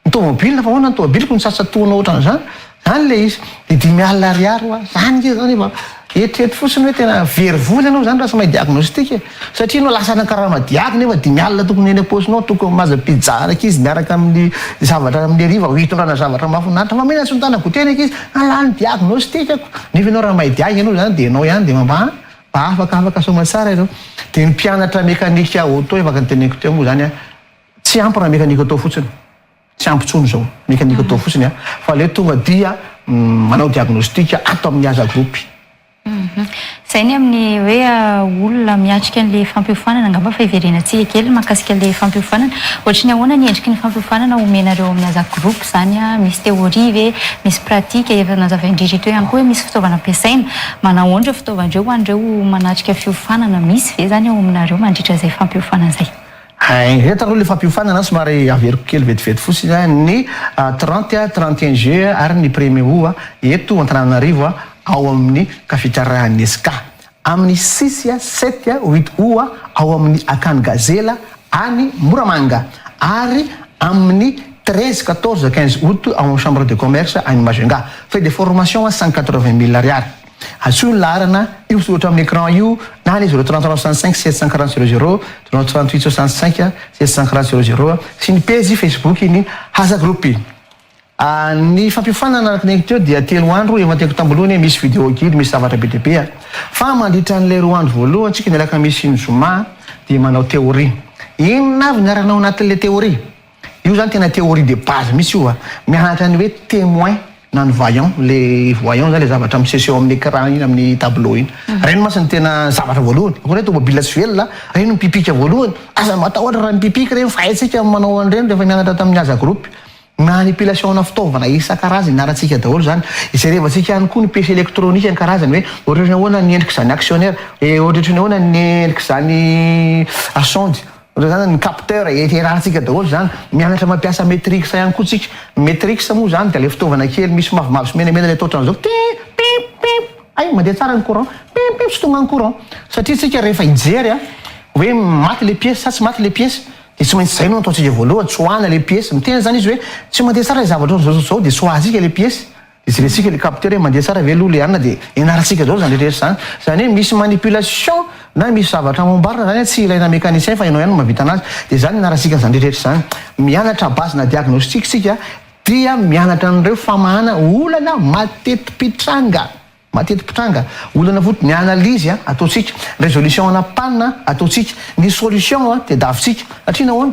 Ny tomobilina fa ahoana ny tomobiliko no tsatsatonao ohatran'izany? Zany ilay izy. Dia dimy alina ariary hoa. Zany nge zany efa. Eritrereto fotsiny hoe tena very vola ianao zany raha tsy mahay diagnostic e. Satria ianao lasa nankarama diaby nefa dimy alina tokony ho eny am-paosinao, tokony ho mahazo pizza an'ankizy miaraka amin'ny zavatra amin'ny hariva ho hitondrana zavatra mahafinaritra. Fa mena tsy mitana goûter ny ankizy. An lany ny diagnostic-ako. Nefa ianao raha mahay diag ianao zany dia ianao ihany dia mba mba afaka afaka soamatsara ianao. Dia ny mpianatra mécanique auto efa teneniko teo moa zany an. Tsy ampy raha mekaniko atao fotsiny. Tsy ampy intsony izao mekaniko atao fotsiny an, fa aleo tonga dia manao diagnostic ato amin'ny Aza Group. Izay ny amin'ny hoe olona miatrika an'ilay fampiofanana angamba fa hiverenatsika kely mahakasika ilay fampiofanana. Ohatry ny ahoana ny endriky ny fampiofanana omenareo amin'ny Aza Group izany? Misy théorie ve? Misy pratique? Efa nazavain-dry Rito ihany koa hoe misy fitaovana ampiasaina. Manahoana ireo fitaovana ireo ho an'ireo manatrika fiofanana? Misy ve izany ao aminareo mandritra izay fampiofanana izay? Hein eto aloha le fampiofanana somary averiko kely vetivety fosiny a, ny trente a, trente et un juillet a, ary ny premier aout a, eto Antananarivo a, ao amin'ny kafitrarahan'ny ESCA, amin'ny six a, sept a, huit aout a, ao amin'ny Akany Gazela any Moramanga, ary amin'ny treize, quatorze, quinze aout ao amin'ny chambre de commerce any Majunga, frais de formation cent quatre-vingt mille ariary. Antsoy ny laharana io soratra amin'ny écran io na ny 0365 740 00, 0368 65 740 00, sy ny pejy Facebook ny Haza Group. Ny fampiofanana araka ny haiko teo dia telo andro, efa noteny tambo aloha anie misy vidéo guide misy zavatra be dia be a! Fa mandritra an'ilay roa andro voalohany tsika ny alakamisy sy ny zoma dia manao théorie. Inona avy ny arahina ao anatin'ilay théorie? Io zany tena théorie de base mihitsy io a! Mianatra ny hoe témoin na ny vaillant, le voyant zany le zavatra miseseho amin'ny écran iny, amin'ny tableau iny. Reny mantsy no tena zavatra voalohany. Akory hoe tômôbila tsy velona, reny no mipipika voalohany. Aza matahotra raha mipipika reny fa haintsika ny manao an'ireny rehefa nianatra tamin'ny haza groupe. Manipulation-na fitaovana isan-karazany ianarantsika daholo izany. Jerevantsika ihany koa ny piece électronique ny karazany hoe ohatrohatry ny ahoana ny endrik'izany actionnaire, ohatrohatry ny ahoana ny endrik'izany sonde. Ohatra izany ny capteur, iarahantsika daholo izany, mianatra mampiasa metrics ihany koa tsika. Ny metrics moa izany dia ilay fitaovana kely misy mavomavo sy menamena ilay atao ohatran'izao, pip, pip, pip, hay mandeha tsara ny courant, pip, pip, tsy tonga ny courant. Satria tsika rehefa hijery an, hoe maty ilay piesy sa tsy maty ilay piesy, dia tsy maintsy izay no ataontsika voalohany, tsoahina ilay piesy. Miteny izany izy hoe tsy mandeha tsara ilay zavatra ohatran'izao sy ohatran'izao, dia tsoahintsika ilay piesy. Jerentsika le capteur e, mandeha tsara ve aloha le an, dia ianarantsika daholo izany rehetra rehetra izany. Izany hoe misy manipulation na misy zavatra amboarina izany an, tsy ilaina mécanicien fa ianao ihany no mahavita anazy, dia izany ianarantsika an'izany rehetra rehetra izany. Mianatra base na diagnostic isika dia mianatra an'ireo famahana olana mateti-pitranga, mateti-pitranga, olana foot, ny analyse an ataontsika, ny résolution ana panne an ataontsika, ny solution an tadiavintsika, satria nahoana?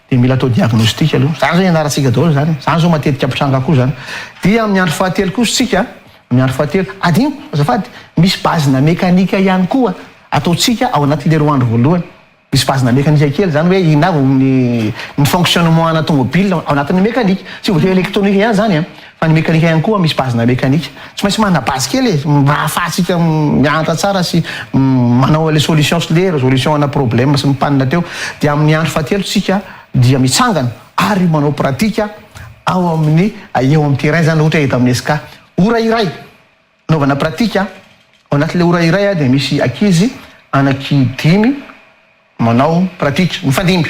Dia mila atao diagnostic aloha. Izany izao ianarantsika daholo izany. Izany izao matetika mpitranga koa izany. Dia amin'ny andro fahatelo kosa isika, amin'ny andro fahatelo, adinoko azafady, misy bazina mekanika ihany koa ataontsika ao anatin'ilay roa andro voalohany. Misy bazina mekanika kely izany hoe inona avy ny ny fonctionnement ana tomobil ao anatin'ny mekanika. Tsy voatery electronique ihany izany an! Fa ny mekanika ihany koa misy base-na mekanika. Tsy maintsy manana base kely e, mba ahafahantsika mianatra tsara sy manao ilay solution sy le resolution ana problème sy ny panne teo. Dia amin'ny andro fahatelo tsika dia mitsangana ary manao pratika ao amin'ny eo amin'ny terrain izany ohatra hoe eto amin'ny SK. Ora iray. Anaovana pratika, Ao anatin'ilay ora iray dia misy ankizy anaky dimy manao pratika, mifandimby.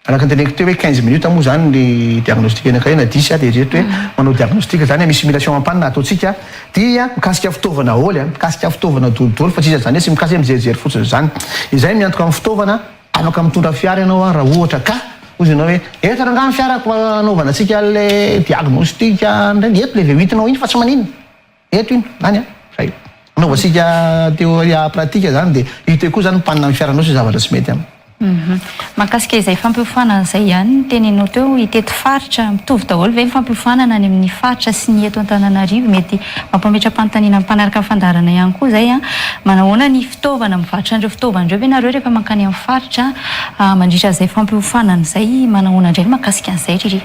Araka ny teneniko teo hoe quinze minutes moa izany ny diagnostic anankiray na dix dia eritrereto hoe manao diagnostic izany hoe misy simulation ampanina ataontsika dia mikasika fitaovana aholy a, mikasika fitaovana dolidoly fa tsy iza izany hoe tsy mikasika hoe mijerijery fotsiny izany. Izay miantoka amin'ny fitaovana, afaka mitondra fiara ianao a raha ohatra ka. Hoy izy ianao hoe eto rangahy ny fiarako mba anaovana antsika an'ilay diagnostic an'ireny, eto ilay V8 nao iny fa tsy maninona. Eto iny, any an, zay io. Anaova sika teoria pratika zany dia hita eo koa zany mpanina ny fiaranao sy zavatra tsy mety aminy. Hum. Mahakasika izay fampiofanana izay ihany ny teneninao teo, itety faritra, mitovy daholo ve ny fampiofanana any amin'ny faritra sy ny eto Antananarivo? Mety mampametra-panontaniana ny mpanaraka ny fandaharana ihany koa izay an! Manahoana ny fitaovana, mivarotra an'ireo fitaovana ireo ve nareo rehefa mankany amin'ny faritra mandritra izay fampiofanana izay? Manahoana indray ny mahakasika an'izay ry ry?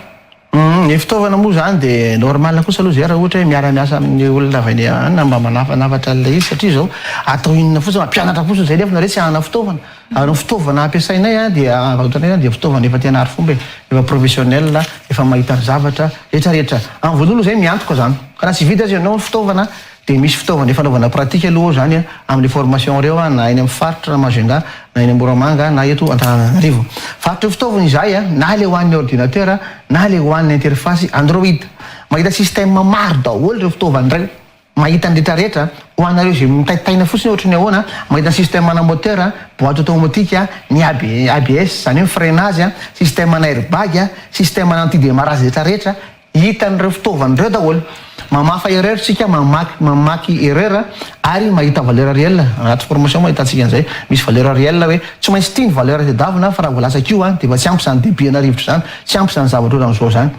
Humm ny fitaovana moa izany dia normal kosa aloha zay raha ohatra hoe miara miasa amin'ny olona avy any an mba manafanafatra an'ilay izy satria izao atao inona fotsiny mampianatra fotsiny izay nefa nareo tsy hanana fitaovana ary ny fitaovana ampiasainay an dia varotanay izany dia fitaovana efa tena arifomba e efa professionnel efa mahita ny zavatra rehetra rehetra amin'ny voalohany aloha izay miantoka izany ka raha tsy vita aza ianao ny fitaovana Dia misy fitaovana efa anaovana pratique aloha izany an, amin'ireo formation ireo an, na eny amin'ny faritra, na Majunga, na eny Moramanga, na eto Antananarivo. Varotra ireo fitaovana izahay an, na ilay ho an'ny ordinateur, na ilay ho an'ny interface Android. Mahita système maro daholo ireo fitaovana indray. Mahita ny retraretra. Ho anareo izay mitaitaina fotsiny hoe ohatry ny ahoana, mahita ny système ana moteur, boite automatique, ny ABS, izany hoe ny freinage, système ana airbag, système ana anti-demarrage retraretra, Hita an'ireo fitaovana ireo daholo. Mamafa erreur tsika, mamaky mamaky erreur ary mahita valeur réel. Anaty formation moa ahitantsika an'izay, misy valeur réel hoe tsy maintsy ity ny valeur tadiavina fa raha voalatsaka io dia efa tsy ampy izany débit ana rivotra izany, tsy ampy izany zavatra ohatran'izao izany.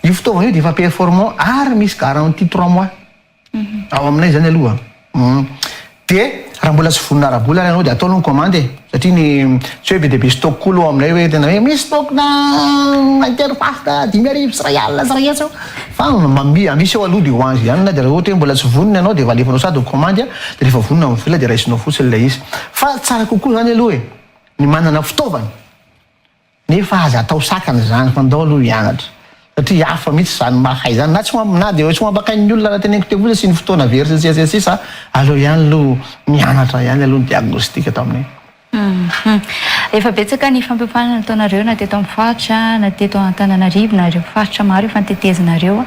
Io fitaovana io dia efa performant ary misy garantie trois mois. Ao aminay zany aloha an. De raha mbola tsy vonona ara-bola ary ianao de atao aloha ny commande e. Satria ny tsy hoe be dia be stock koa aloha ao aminay hoe tena hoe misy stock na interface na dimy arivo sy iray alina sy iray hetsy eo fa mami- misy eo aloha de ho anzio ihany na de raha ohatra hoe mbola tsy vonona ianao de efa alefanao sady ny commande a de rehefa vonona ny vola de raisinao fotsiny ilay izy. Fa tsara kokoa zany aloha e ny manana fitaovana. Nefa aza atao sakana izany fa ndao aloha hianatra satria hafa mihitsy izany mahay izany na tsy ho na dia tsy ho ampakain'ny olona raha teneniko teo fotsiny sy ny fotoana very sy ny sisa sy ny sisa aleo ihany aloha mianatra ihany aloha ny diagnostic atao aminay. Efa betsaka ny fampiofanana nataonareo na teto amin'ny faritra na teto Antananarivo na ireo faritra maro efa notetezinareo.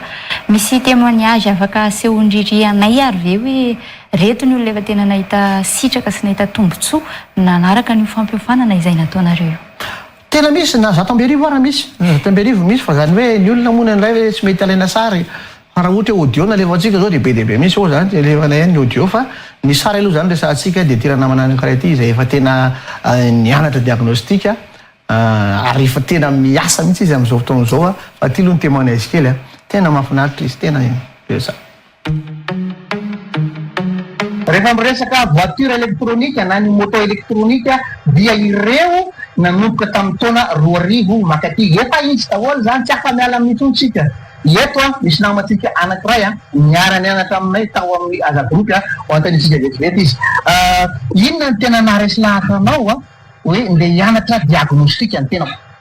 Misy témoignage afaka asehon'i Riri anay ary ve hoe reto ny olona efa tena nahita sitraka sy nahita tombotsoa nanaraka an'io fampiofanana izay nataonareo io? Tena misy na zato amby arivo ara misy na zato amby arivo misy fa zany hoe ny olona moa indraindray hoe tsy mety alaina sary fa raha ohatra hoe audio no alefantsika zao dia be dia be misy moa zany tsy alefana ihany ny audio fa ny sary aloha zany resahantsika dia ity ranamana anankiray ity izay efa tena nianatra diagnostic ary efa tena miasa mihitsy izy amin'izao fotoana izao fa ity aloha ny témoignage kely a tena mahafinaritra izy tena be zany. Rehefa miresaka voiture électronique na ny moto électronique dia ireo nanomboka tamin'ny taona roa arivo makaty efa hisy daholo izany tsy afa miala amin'io intsony tsika eto misy namantsika anakiray a niara nianatra aminay tao amin'ny aza groupe a ho antanitsika vetivety izy inona ny tena naharesy lahatra anao a hoe ndeha hianatra diagnostic ny tenako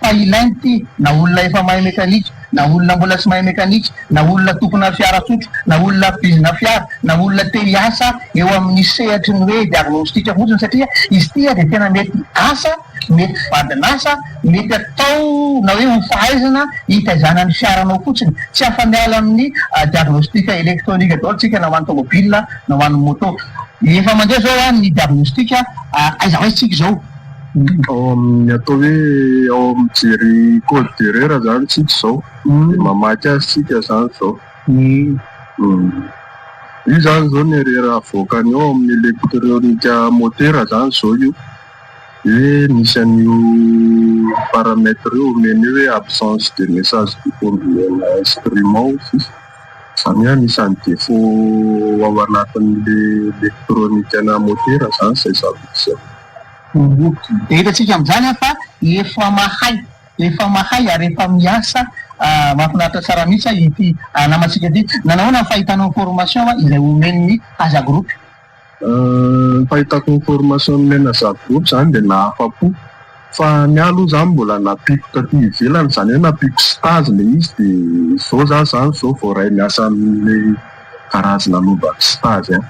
fa ilaina ity na olona efa mahay mekanika na olona mbola tsy mahay mekanika na olona tompona fiara tsotra na olona mpizina fiara na olona te hiasa eo amin'ny sehatry ny hoe diagnostic fotsiny satria izy ity dia tena mety asa mety vadin'asa mety atao na hoe ho fahaizana hitaizana ny fiaranao fotsiny tsy afa-miala amin'ny diagnostic electronique daholo tsika na ho an'ny tomobile na ho an'ny moto efa mandeha zao an ny diagnostic aiza ho aiza tsika izao Ao amin'ny atao hoe ao amin'ny mijery code d'erreur izany isika izao, dia mamaky azy isika izany izao. Io izany izao ny erreur avoakany ao amin'ny elektronika motera izany izao io. Dia misy an'io paramètre io omeny eo hoe absence de message du combien instrument sisa. Izany hoe anisan'ny défaut ao anatin'ilay elektronikana motera izany izay zavatra izay. Dia hitantsika amin'izany an fa efa mahay, efa mahay ary efa miasa mahafinaritra tsara mihitsy ity namantsika ity. Nanahoana ny fahitanao ny formation izay omen'ny Haza Group? Ny fahitako ny formation nomen'ny Haza Group izany dia nahafa-po fa ny ahy aloha izany mbola nampiako taty ivelany, izany hoe nampiako stage ilay izy dia izao za izany izao voaray miasa amin'ilay garage nanaovako stage an.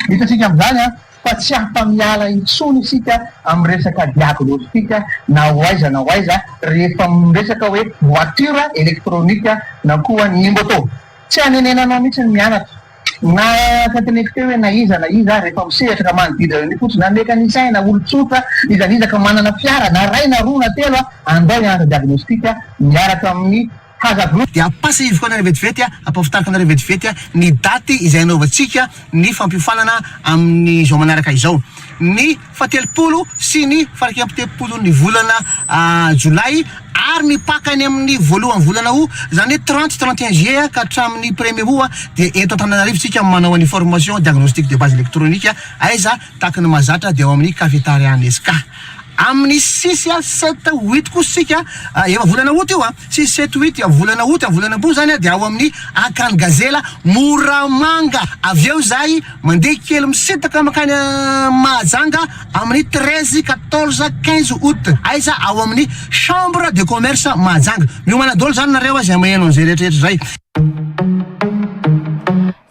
Hitantsika amin'izany an fa tsy afa-miala intsony isika amin'ny resaka diagnostic na ho aiza na ho aiza rehefa miresaka hoe voiture électronique na koa ny moto. Tsy anenenanao mihitsy ny mianatra na tenteneko teo hoe na iza na iza ary rehefa misehatra ka manodidina an'io fotsiny na mécanicien na olon-tsotra iza na iza ka manana fiara na iray na roa na telo andao hianatra diagnostic miaraka amin'ny Haza Group dia ampasa hivoanana vetivety ampahafantarinareo vetivety ny daty izay hanaovantsika ny fampiofanana amin'ny zao manaraka izao ny fahatelopolo sy ny faraika ampitepolo ny volana jolay ary ny paka any amin'ny voalohan'ny volana aout izany hoe trente trente et un juillet ka hatramin'ny premier aout dia eto Antananarivo isika manao an'i formation diagnostic de base électronique aiza Tahaka ny mahazatra dia ao amin'ny Cafetarian SK. Amin'ny sisy a sept huit kosa isika a, efa volana août io a, sisy sept huit dia volana août a, volana am-po izany a, dia ao amin'ny Akan Gazela Moramanga. Avy eo izahay mandeha kely misintaka mankany Mahajanga amin'ny treize, quatorze, quinze août. Aiza? Ao amin'ny Chambre de Commerce Mahajanga. Miomana daholo izany nareo a izay maheno an'izay rehetrarehetra izay.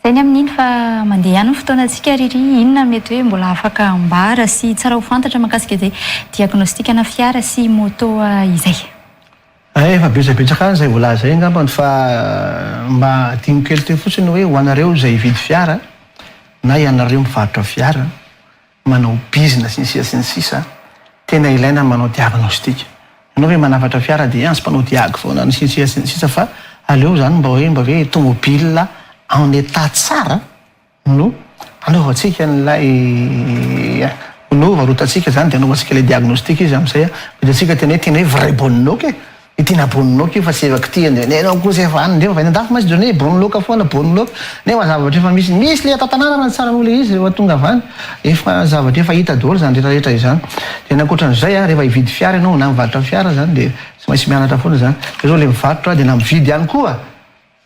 Izay ny amin'iny fa mandeha ihany ny fotoanantsika ry ry inona mety hoe mbola afaka ambara sy tsara ho fantatra makasika izay diagnostic-na fiara sy moto izay? Ay efa betsabetsaka any izay voalaza izay angambany fa mba adino kely teo fotsiny hoe ho anareo izay hividy fiara na ianareo mivarotra fiara manao bizina sy ny sisa sy ny sisa, tena ilaina ny manao diagnostic, ianao ve manafatra fiara dia ans mpanao diag foana ny sisa sy ny sisa fa aleo zany mba hoe mba hoe tomobile en état tsara no anaovantsika an'ilay no varotantsika zany dia anaovantsika ilay diagnostic izy amin'izay vitantsika tena hoe tena hoe vrai bonne ok. I Tina Bonloka io fa tsy efa kitihana io. Nenao kosa efa any ndreo. Any an-dafy mantsy Johnny e, Bonloka foana, Bonloka. Nefa zavatra efa misy. Misy le tantanàna raha ny tsarako le izy rehefa tonga avy any. Efa zavatra efa hita daholo izany rehetra rehetra izany. Dia ny ankoatran'izay a, rehefa hividy fiara ianao na mivarotra fiara izany dia tsy maintsy mianatra foana izany. Fa izao le mivarotra dia na mividy ihany koa.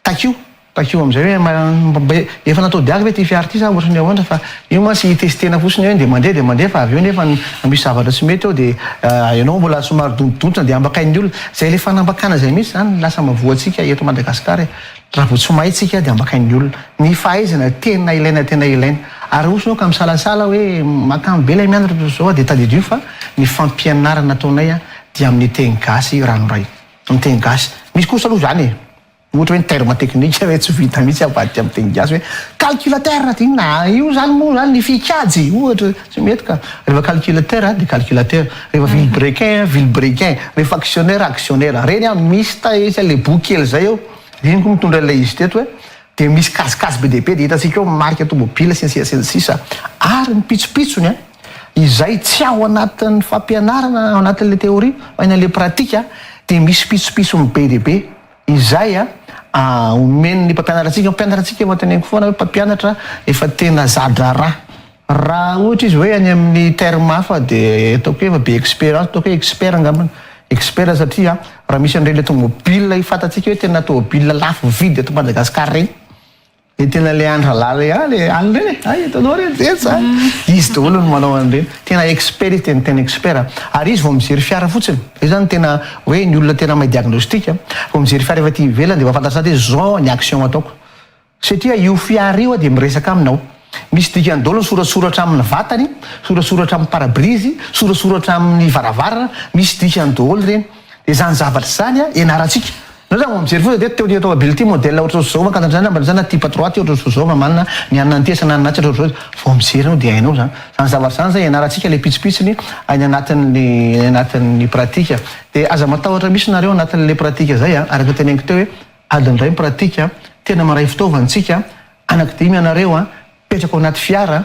Takio, takio amin'izay hoe mba efa natao diaky ve ity fiara ity sa ohatran'ny ahoana fa io mantsy hitestena fotsiny hoe dia mandeha dia mandeha fa avy eo nefa misy zavatra tsy mety eo dia ianao mbola somary dontodontona dia ambakain'ny olona. Izay ilay fanambakana izay mihitsy izany no lasa mahavoantsika eto Madagasikara e. Raha vao tsy mahay tsika dia ambakain'ny olona. Ny fahaizana tena ilaina tena ilaina. Ary raha ohatra ianao ka misalasala hoe mahakamo be ilay mianatra toy izao dia tadidio fa ny fampianarana ataonay dia amin'ny teny gasy ranoray. Amin'ny teny gasy. Misy kosa aloha izany e. Ohatra hoe ny terme teknika hoe tsy vita mihitsy avadika amin'ny teny gasy hoe calculateur dia inona? Io izany moa izany ny fikajy ohatra, tsy mety ka! Rehefa calculateur dia calculateur, rehefa vilebrequin, vilebrequin, rehefa actionnaire, actionnaire. Reny an, misy taetra ilay boky kely izay eo, iny koa mitondra ilay izy teto hoe, dia misy kajikajy be dia be dia hitantsika eo marika tomobila sy ny sisa sy ny sisa ary ny pitsopitsony an! Izay tsy ao anatin'ny fampianarana ao anatin'ilay théorie fa eny an'ilay pratique dia misy pitsopitsony be dia be izay omen'ny mpampianatra antsika. Ny mpampianatra antsika efa teneniko foana hoe mpampianatra efa tena za-draharaha. Raha ohatra izy hoe any amin'ny terme hafa dia ataoko hoe efa be expérience, ataoko hoe expert angambany, expert satria raha misy an'ireny ilay tomobile efa fantatsika hoe tena tomobile lafo vidy eto Madagasikara ireny, Le tena le andra lala ah le any reny e ay hitanao reny zetsy a izy daholo no manao an'ireny tena expert izy tena tena expert ary izy vao mijery fiara fotsiny zay zany tena hoe ny olona tena mahay diagnostic a vao mijery fiara avy aty ivelany de mahafantatra sady hoe zao ny action ataoko satria io fiara io a de miresaka aminy ao misy dikany daholo ny soratsoratra amin'ny vatany soratsoratra amin'ny pare-brise soratsoratra amin'ny varavarana misy dikany daholo ireny de zany zavatra zany a ianarantsika Nareo raha vao mijery foza dia teo ty eto Abily ty modèle ohatry ny Zova Ankatso Andrana Rambalintsaha na Tipa Trois ty ohatry ny Sozo Mamanina ny anona ny Tesa na ny Natsa ohatry ny Rojo vao mijery enao dia hainao zany zany zavatra zany zany ianarantsika le pitsopitsony any anatin'ny any anatin'ny pratika dia aza matahotra misy nareo anatin'le pratika zay a araka teneniko teo hoe adiny iray ny pratika tena maray fitaovana tsika anaky dimy ianareo a mipetraka ao anaty fiara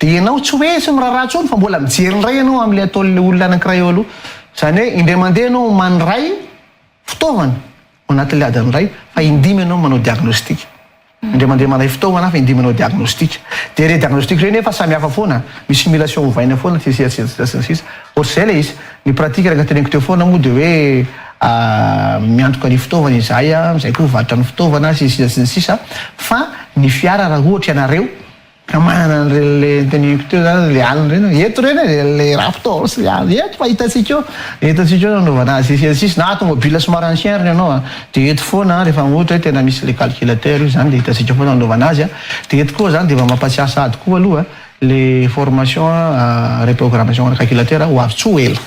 Dia ianao tsy hoe tsy miraharaha intsony fa mbola mijery indray ianao amin'ilay ataon'ilay olona anankiray eo aloha. Izany hoe indray mandeha ianao mandray fitaovana ao anatin'ilay adiny iray fa indimy ianao manao diagnostic. Indray mandeha mandray fitaovana aho fa indimy manao diagnostic. Dia ireny diagnostic ireny nefa samy hafa foana, misy simulation ovaina foana sy ny sisa sy ny sisa. Ohatr'izay ilay izy. Ny pratique araka ny teneniko teo foana moa dia hoe miantoka ny fitaovana izahay, izay koa mivarotra ny fitaovana sy ny sisa sy ny sisa fa ny fiara raha ohatra ianareo, Ka manana an'ireny le noteneniko teo zany le alina ireny hoe eto ireny e, le raptor sy le alina eto fa hitantsika eo, hitantsika eo nanaovana azy etsy ary sisa na tomobile somary ancien ary ny anao a dia eto foana rehefa ohatra hoe tena misy le calculateur io zany dia hitantsika foana nanaovana azy a dia eto koa zany dia mba mampatsiahy sahady koa aloha le formation reprogrammation ana calculateur ho avy tsy ho ela.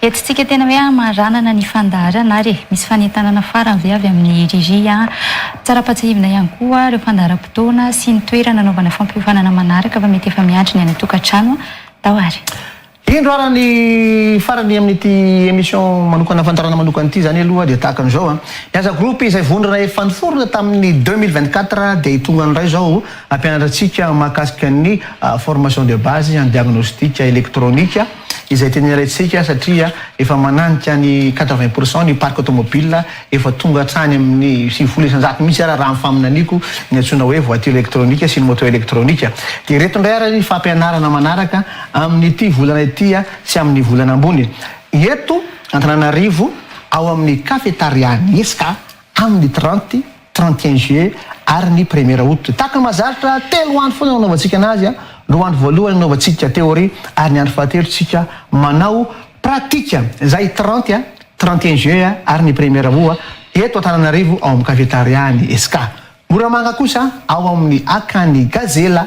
Hetsitsika tena hoe hamaranana ny fandaharana ary e! Misy fanentanana farany ve avy amin'i Riri a? Tsara ampahatsiahivina ihany koa ireo fandaharam-potoana sy ny toerana anaovana fampiofanana manaraka fa mety efa miandry ny any an-tokantrano tao ary. Indro ary ny farany amin'ity emission manokana fandaharana manokana ity, izany aloha dia tahaka an'izao a. Ny Aza Group izay vondrona efa niforona tamin'ny deux mille vingt-quatre dia hitongany indray izao, Hampianatra antsika mahakasika ny formation de base en diagnostic électronique izay tena ilaintsika satria efa mananika ny quatre vingt pour cent ny parc automobile efa tonga hatrany amin'ny sivifolo isanjato mihitsy ara raha ny faminaniako ny antsoina hoe voiture électronique sy ny moto électronique dia ireto indray ara ny fampianarana manaraka amin'ity volana ity sy amin'ny volana ambony eto Antananarivo ao amin'ny cafetaria ny esca tamin' ny trente, trente et un juillet, ary ny première aout. Tahaka ny mahazatra, telo andro foana no anaovantsika anazy, roa andro voalohany anaovantsika théorie, ary ny andro fahatelo tsika manao pratique, izay trente, trente et un juillet, ary ny première aout, eto Antananarivo ao amin' ny Cafetaria ny Esca. Moramanga kosa ao amin' ny Akany Gazela.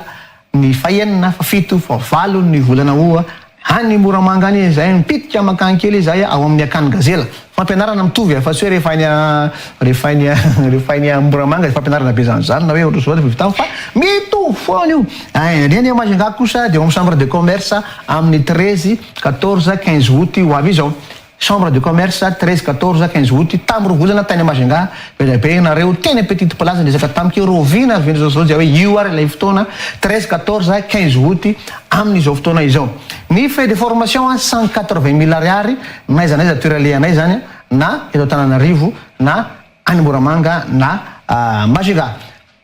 Ny fahenina, fahafito, fahavalo ny volana Août any Moramanga any izahay mipitika mankany kely izahay ao amin'ny akany Gazela. Fampianarana mitovy afa tsy hoe rehefa any rehefa any rehefa any Moramanga dia fampianarana be izany izany na hoe ohatr'izao rehefa avy tany fa mitovy foana io. Ny any Majunga kosa dia ao amin'ny Chambre de Commerce amin'ny treize, quatorze, quinze Août ho avy izao. Chambre de commerce, treize, quatorze, quinze aout, tam roa volana tany Majunga, be dia be nareo teny petite place niezaka tamiko io Rovina avy indry zao dia hoe io ary ilay fotoana, treize, quatorze, quinze aout, amin izao fotoana izao. Ny frais de formation a cent quatre vingt mille ariary n'aiza n'aiza toera alehanay zany a na eto Antananarivo na any Moramanga na Majunga.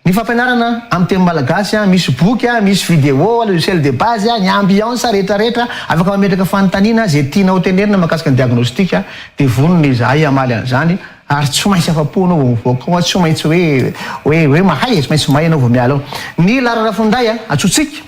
Ny fampianarana amin'ny teny malagasy a, misy boky a, misy vidéo, logiciel de base a, ny ambiance rehetra rehetra afaka mametraka fanontaniana izay tianao hotenenina mahakasika ny diagnostic dia vonona izahay hamaly an'izany ary tsy maintsy afa-po ianao vao mivoaka ao a, tsy maintsy hoe hoe hoe mahay e, tsy maintsy mahay ianao vao miala ao. Ny laharana finday a, antsointsika.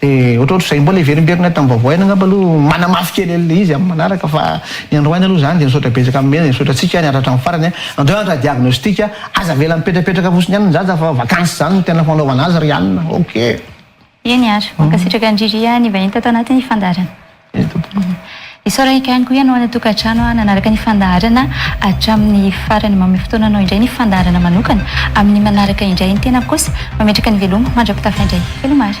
Dia ohatrohatr izay mbola heverimberina tamin'ny vaovao aina angamba aloha manamafy kely an'ilay izy amin'ny manaraka fa ny andro aina aloha izany dia misaotra betsaka amin'ny omena dia misaotra antsika ary miaritra hatramin'ny farany a! Andao hianatra diagnostic a! Aza avela mipetrapetraka fotsiny ihany ny zaza fa vacances izany no tena fanaovana azy ry anona! Ok. Eny ary. Mankasitraka an-dry Ria nivahiny tato anatin'ny fandaharana. Isaorana ihany koa ianao any an-tokantrano nanaraka ny fandaharana hatramin'ny farany. Manome fotoana anao indray ny fandaharana manokana amin'ny manaraka indray. Ny tenako kosa mametraka ny veloma mandra-pitafa indray. Veloma àry.